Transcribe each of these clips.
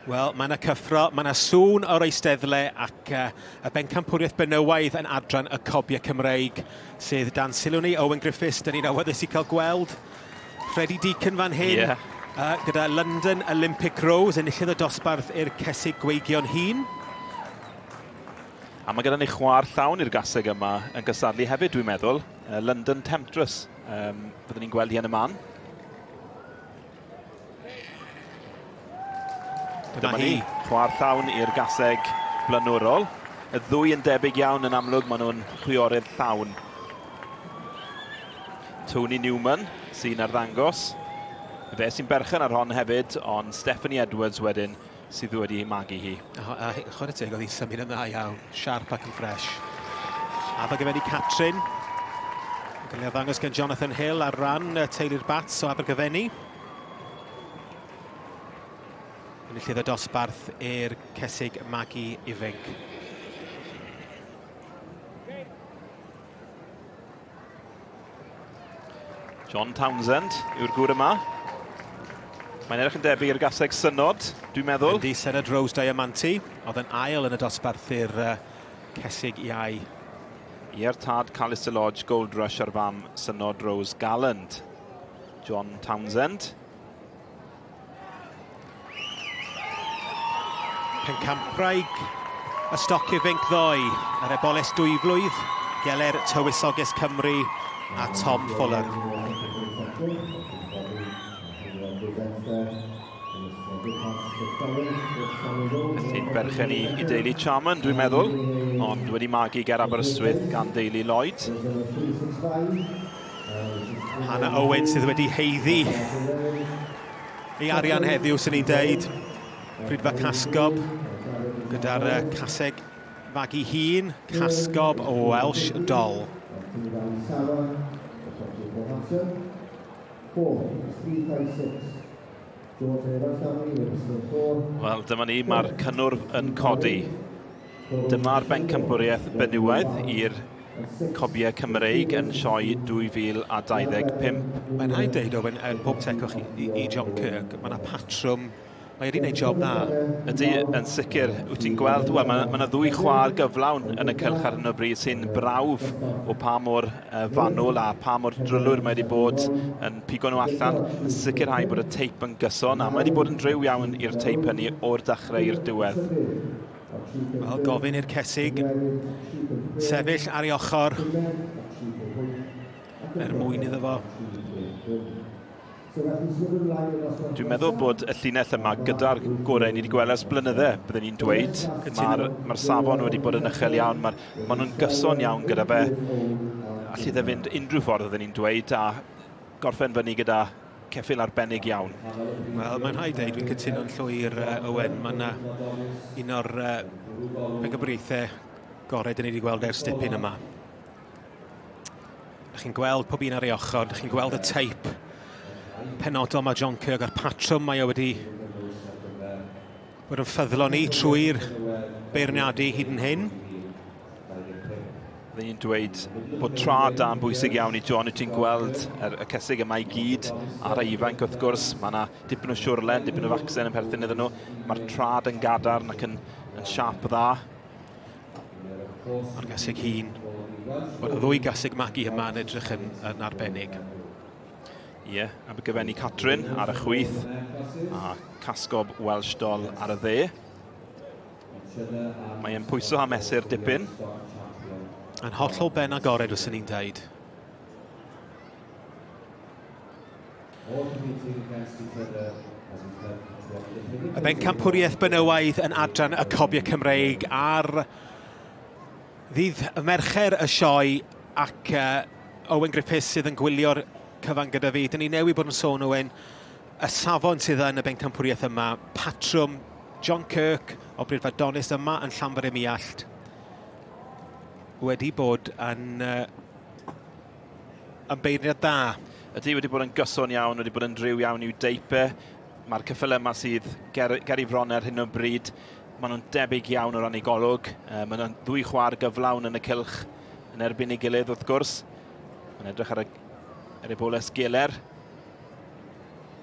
Wel, mae yna cyffro, mae yna sŵn o'r eisteddle ac uh, y bencampwriaeth benywaidd yn adran y cobiau Cymreig sydd dan sylw ni, Owen Griffiths, dyn ni'n awyddus i cael gweld Freddie Deacon fan hyn. Yeah. Uh, gyda London Olympic Rose, enillydd y dosbarth i'r cesig gweigion hun. A mae gyda ni chwa'r llawn i'r gaseg yma yn gysadlu hefyd, dwi'n meddwl. Uh, London Temptress, um, fyddwn ni'n gweld hi yn y man. Dyma hi, chwa'r llawn i'r gaseg blaenorol. Y ddwy yn debyg iawn yn amlwg, maen nhw'n chwiorydd llawn. Tony Newman sy'n arddangos. Fe sy'n berchen ar hon hefyd, ond Stephanie Edwards wedyn sydd wedi ei magu hi. A chwarae teg, oedd hi'n symud yn dda iawn, siarp ac yn ffresh. Addo gyfer i Catrin. Gael ei ddangos gan Jonathan Hill ar ran teulu'r Bats o Abergyfenni. Yn y llydd o dosbarth i'r cesig magu ifinc. John Townsend yw'r gŵr yma. Mae'n edrych yn debyg i'r gaseg synod, dwi'n meddwl. Ydy Senad Rose Diamanti, oedd yn ail yn y dosbarth i'r uh, cesig iau. Ie'r tad Callister Lodge, Gold Rush ar fam Synod Rose Galland. John Townsend. Pencampwraig y stoc ifinc ddoe, yr eboles dwy flwydd, geler tywysoges Cymru a Tom Fuller. Sy'n berchen i, i deulu Charman, dwi'n meddwl, ond wedi magu ger Aberystwyth gan deulu Lloyd. Hannah Owen sydd wedi heiddi ei arian heddiw, sy'n ni'n deud. Prydfa Casgob gyda'r uh, caseg fagu hun, Casgob o Welsh Doll. Wel, dyma ni, mae'r cynnwrf yn codi. Dyma'r bencampwriaeth benywaidd i'r Cobiau Cymreig yn Sioe 2025. Mae'n rhaid dweud, Owen, er pob tecwch i, i, i John Kirk, mae yna patrwm Mae wedi gwneud job dda. Ydy, yn sicr. Wyt ti'n gweld, wel, mae, mae yna ddwy chwar gyflawn yn y cylch ar hyn o bryd sy'n brawf o pa mor uh, fanwl a pa mor drylwyr mae wedi bod yn pigo nhw allan, yn sicrhau bod y teip yn gyson, a mae wedi bod yn driw iawn i'r teip hynny o'r dechrau i'r diwedd. Wel, gofyn i'r Cesig sefyll ar ei ochr er mwyn iddo fo. Dwi'n meddwl bod y llinell yma gyda'r gorau ni wedi gweld ers blynydde, byddwn ni'n dweud. Mae'r ma safon wedi bod yn uchel iawn, maen ma nhw'n gyson iawn gyda fe. Allu dde fynd unrhyw ffordd, oedden ni'n dweud, a gorffen fyny gyda Ceffyl arbennig iawn. Wel, mae'n rhaid dweud, dwi'n cytuno'n llwyr, uh, Owen. Mae yna un o'r uh, pencampwriaethau gorau dyn ni wedi gweld ers dipyn yma. Ydych chi'n gweld pob un ar ei ochr, ydych chi'n gweld y teip penodol mae John Kirk a'r patrwm mae o wedi Bod yn ffyddlon ni trwy'r beirniadu hyd yn hyn. Rydyn ni'n dweud bod tra da yn bwysig iawn i John, i ti'n gweld er, y cysig yma i gyd ar ei ifanc wrth gwrs, mae yna dipyn o siwrlen, dipyn o faccen yn perthyn iddyn nhw, mae'r trad yn gadarn ac yn, yn siap dda. Mae'r gasig hun, mae'r ddwy gasig magu yma yn edrych yn, yn arbennig. Ie, yeah, Abergyfenni Catrin ar y chwyth a Casgob Welsh Doll ar y dde. Mae'n pwyso a mesur dipyn. Yn hollol ben agored, os ni'n dweud. Y ben campwriaeth benywaidd yn adran y cobiau Cymreig ar Ddydd Mercher y sioe ac Owen Griffiths sydd yn gwylio'r cyfan gyda fi. Dyn ni newydd bod yn sôn, Owen, y safon sydd yn y bencampwriaeth yma, patrwm John Kirk o Bryd Fadonus yma yn Llanfair ym Miallt wedi bod yn, uh, yn beirniad da. Ydy wedi bod yn gyson iawn, wedi bod yn driw iawn i'w deipe. Mae'r cyffel yma sydd ger, ger i fron ar hyn o bryd Maen nhw'n debyg iawn o ran ei golwg. Maen nhw'n ddwy chwar gyflawn yn y cylch yn erbyn ei gilydd wrth gwrs. Mae'n edrych ar y Ereboles Geler,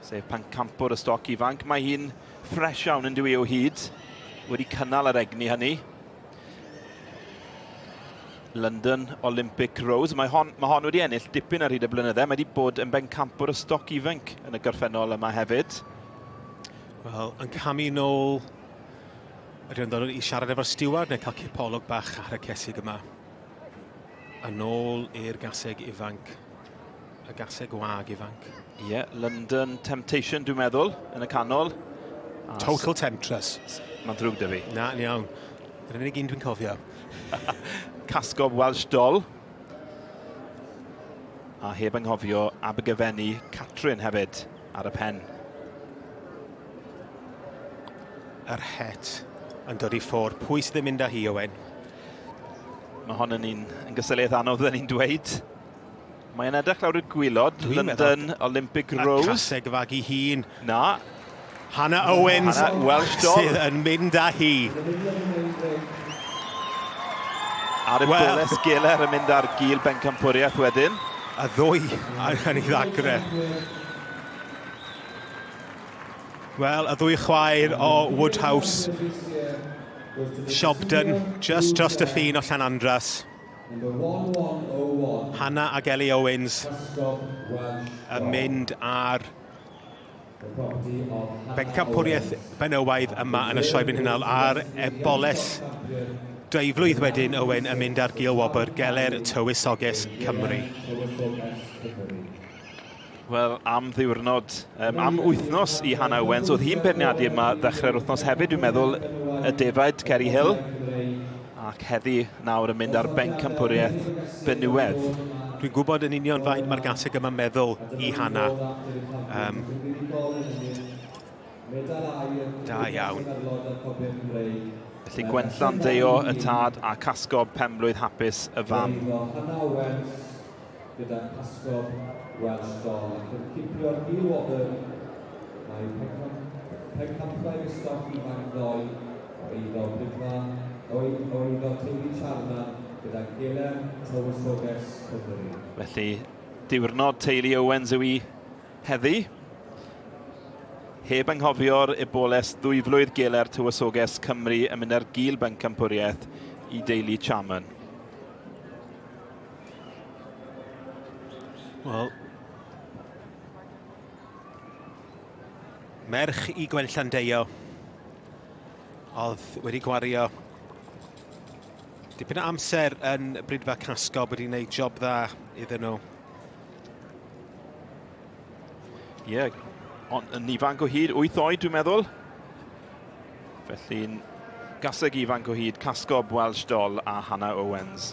sef pan campwr y stoc ifanc. Mae hi'n ffres iawn yn dwi o hyd, wedi cynnal yr egni hynny. London Olympic Rose. Mae hon, mae hon wedi ennill dipyn ar hyd y blynyddau. Mae wedi bod yn bencampwr y stoc ifanc yn y gorffennol yma hefyd. Wel, yn camu nôl, rhywun dod i siarad efo'r steward neu cael cipolwg bach ar y cesig yma. A nôl i'r gaseg ifanc, y gaseg wag ifanc. Ie, yeah, London Temptation, dwi'n meddwl, yn y canol. A Total Temptress. Mae'n ddrwg dy fi. Na, yn iawn. Yr unig un dwi'n cofio. Casgob Welsh Doll. A heb anghofio Abergyfenni Catrin hefyd. Ar y pen. Yr het yn dod i ffwr. Pwy sydd yn mynd â hi, Owen? Mae hon yn un yn gysylliaeth anodd, dda ni'n dweud. Mae yna edrych lawr y gwylod, London Olympic Rose. Y caseg fag i hun. Na. Hannah Owens Hannah Welsh Doll. sydd yn mynd â hi. Ar y well. Boles Geller yn mynd ar gil bencampwriaeth wedyn. a ddwy angen i ddagre. Wel, y ddwy chwaer o Woodhouse. Siobden, just dros y ffin o Llan Andras. Hanna ac Ellie Owens yn mynd ar Bencampwriaeth benywaidd yma yn y Sioe Frenhinol ar Eboles dwy flwydd wedyn Owen yn mynd ar gil wobr Geler Tywysoges Cymru. Wel, am ddiwrnod, um, am wythnos i Hannah Owens. Oedd hi'n beirniadu yma ddechrau'r wythnos hefyd, dwi'n meddwl, y defaid, Ceri Hill. Ac heddi, nawr yn mynd ar bencampwriaeth Benywedd. Dwi'n gwybod yn union faint mae'r gaseg yma'n meddwl i Hanna. Um, da iawn. Felly Gwenllan Deio y tad a casgob penblwydd hapus y fam. gyda phasgod Welsh Don ac yn cipio'r Neil Wobern, mae pencampwriaeth y stoc ifanc ddoe, o eiddo Bridfa, o eiddo teulu Charman gyda Gelen Tywysoges Cymru. Felly, diwrnod teulu Owens yw i heddi. Heb anghofio'r eboles ddwyflwydd geler tywysoges Cymru yn mynd ar gil bencampwriaeth i deulu Charman. Wel, merch i Gwen Llandeio oedd wedi gwario dipyn o amser yn Brydfa Casgo wedi gwneud job dda iddyn nhw. Ie, yeah, ond yn ifanc o hyd, 8 oed dwi'n meddwl. Felly'n gaseg ifanc o hyd Casgob, Welsh Doll a Hannah Owens.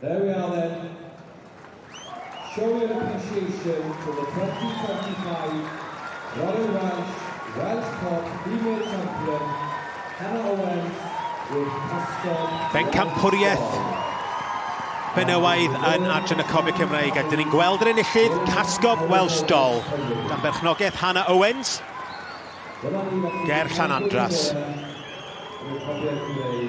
There we are then. Show your appreciation to the 2025 Royal Welsh Welsh Cob Female Champion, Hannah Owens with Pysgod Bencampwriaeth benywaidd yn Adran y Cob Cymraeg a dyn ni'n gweld yr enillydd Casgob Welsh Doll gan berchnogaeth Hannah Owens ger Llanandras. Dyna ni felly,